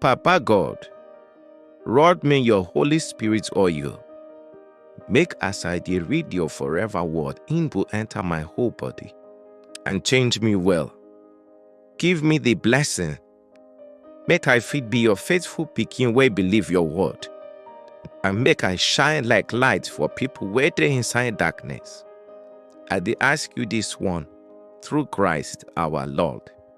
Papa God, rod me your Holy Spirit oil. Make as I dey read your forever word, im go enter my whole body and change me well. Give me the blessing, make I fit be your faithful pikin wey believe your word, and make I shine like light for people wey dey inside darkness. I dey ask you this one through Christ our Lord.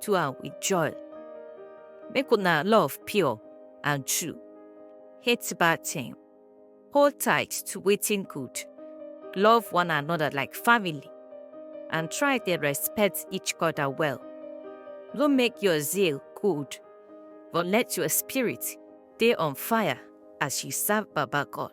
do am with joy. Make una love pure and true. Hate bad thing. Hold tight to wetin good. Love one another like family and try dey respect each other well. No make your zeal cold, but let your spirit dey on fire as you serve Baba God.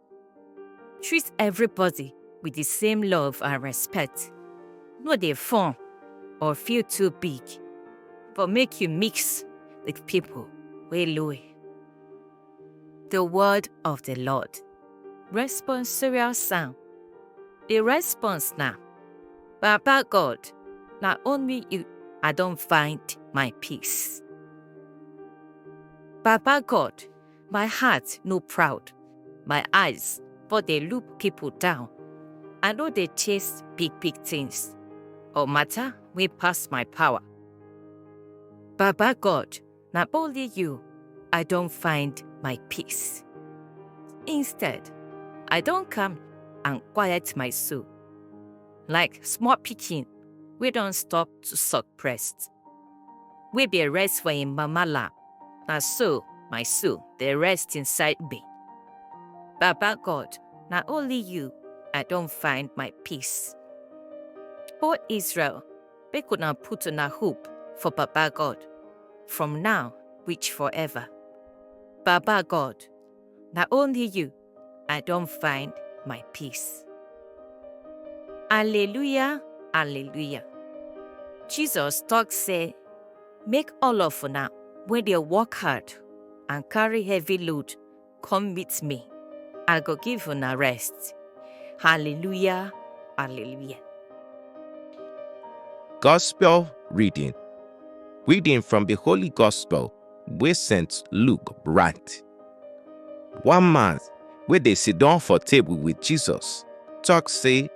Treat everybody with the same love and respect. No dey form or feel too big, but make you mix with people wey low. The word of the Lord. Responsorial psalm. The response na, Baba God, na only you I don find my peace. Baba God, My heart no proud, my eyes but dey look people down. I no dey chase big big things or matter wey pass my power. Baba God, na only you I don find my peace. Instead, I don calm and quiet my soul like small pikin wey don stop to suck breast. We be rest for him mama lap. Na so my soul dey rest inside me. Baba God, na only you I don find my peace. O Israel, make una put una hope for Baba God, from now reach forever. Baba God, na only you I don find my peace. Alleluia, alleluia. Jesus talk say, make all of una wey dey work hard and carry heavy load come meet me. I go give una rest. Hallelujah, hallelujah. Gospel reading. Reading from the Holy Gospel wey St. Luke write. One man wey dey sit down for table with Jesus talk say,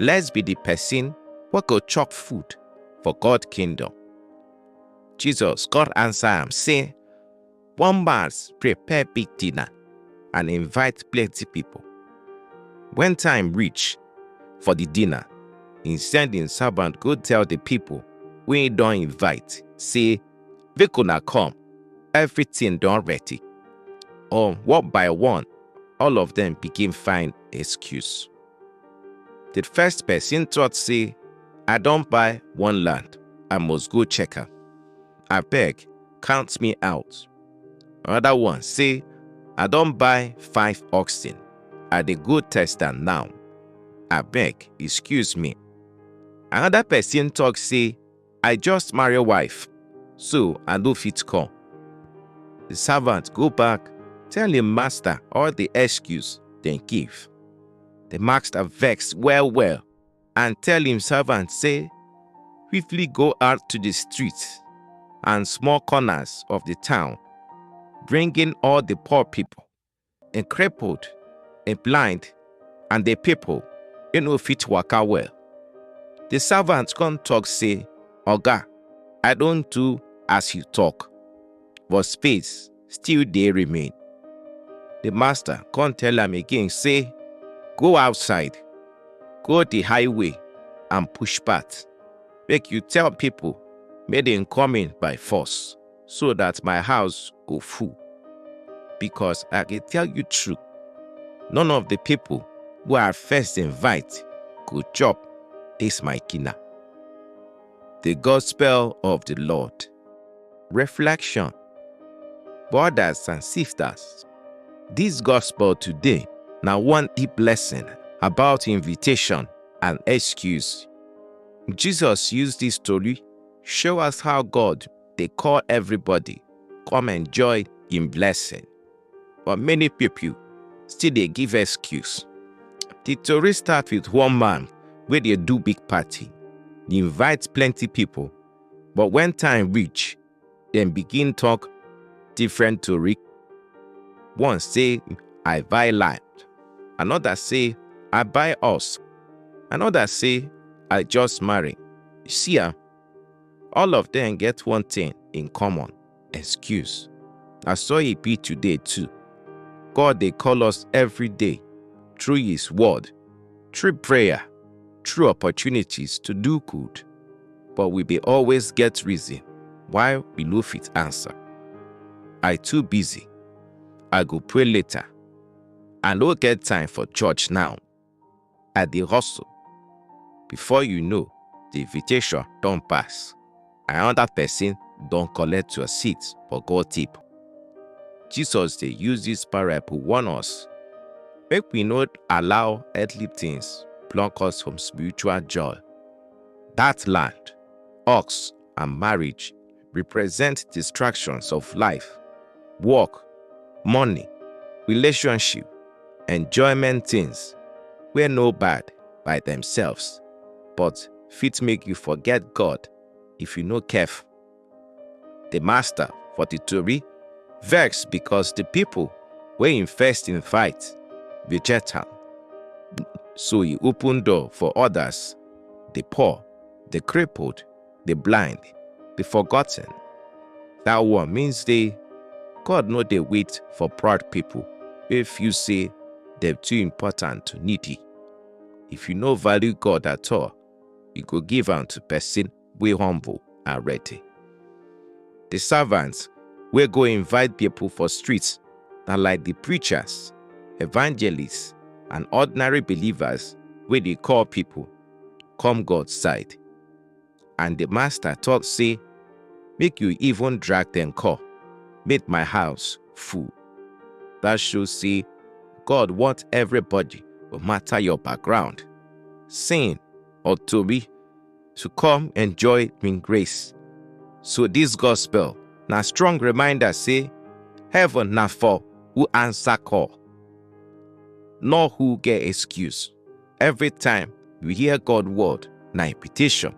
Let's be the person wey go chop food for God kingdom. Jesus God answer am say, One man prepare big dinner and invite plenty people. When time reach for the dinner, he send him servant go tell the people wey he don invite say, Make una come, everything don ready. Um, one by one, all of them begin find excuse. The first person thought say, I don buy one land, I must go check am. Abeg, count me out. Another one say, I don buy five oxen, I dey go test am now. Abeg, excuse me. Another person talk say, I just marry wife, so I no fit come. The servant go back, tell him master all the excuse dem give. The master vex well well and tell him servant say, quickly go out to the streets and small corners of the town, bringing all the poor people e crippled, e blind, and the people e no fit waka well. The servant come talk say, Oga, I don do as you talk, but space still dey remain. The master come tell am again say, Go outside, go the highway and push path, make you tell people make dem come in by force. so that my house go full. Because I dey tell you true, none of the people wey I first invite go chop this my kina. The Gospel of the Lord. Reflection Brothers and sisters, this gospel today na one deep lesson about invitation and excuse. Jesus use this story show us how God dey call everybody come enjoy im blessing, but many pipo still dey give excuse. Di tori start wit one man wey dey do big party, e invite plenty pipo, but wen time reach, dem begin tok different tori. One say, I buy land, anoda say, I buy house, anoda say, I just marry. See am! All of them get one thing in common excuse. Na so e be today too. God dey call us every day through His word, through prayer, through opportunities to do good, but we dey always get reason why we no fit answer. I too busy. I go pray later. I no get time for church now. I dey hustle. Before you know, the invitation don pass. Another person don collect your seat for God tip. Jesus dey use this parable warn us make we no allow earthly things block us from spiritual joy. That land, ox, and marriage represent distractions of life, work, money, relationship, enjoyment things wey no bad by themselves but fit make you forget God if you no careful. The master for the tori vex because the people wey im first invite reject am. So e open door for others, the poor, the crippled, the blind, the forgotten. That one means they God no dey wait for proud people wey feel say dem too important to needy. If you no value God at all, you go give am to person wey humble and ready. The servants wey go invite people for streets na like the preachers, evangelists and ordinary believers wey dey call people come God side. And the master talk say, make you even drag them call, make my house full. That shows say God want everybody, no matter your background, sin or to be, to come enjoy in grace. So this gospel na strong reminder say heaven na for who answer call, not who get excuse. Every time we hear God word, na invitation.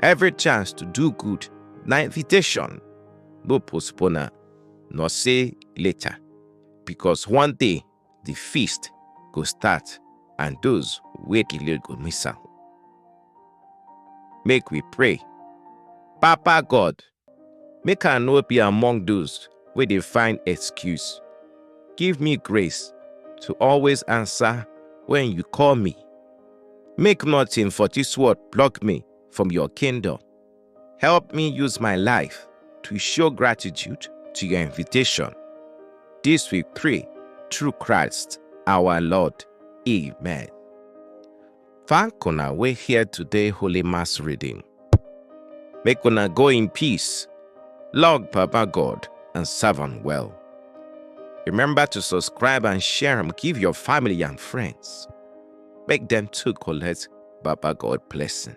Every chance to do good, na invitation. No postpone am, nor say later, because one day the feast go start and those wey delay go miss am. Make we pray. Papa God, Make I no be among those wey dey find excuse. Give me grace to always answer when you call me. Make nothing for this world block me from your kingdom. Help me use my life to show gratitude to your invitation. This we pray through Christ our Lord. Amen. Thank una wey hear today Holy Mass reading. Make una go in peace, love Papa God and serve am well. Remember to subscribe and share am give your family and friends. Make dem too collect Baba God blessing.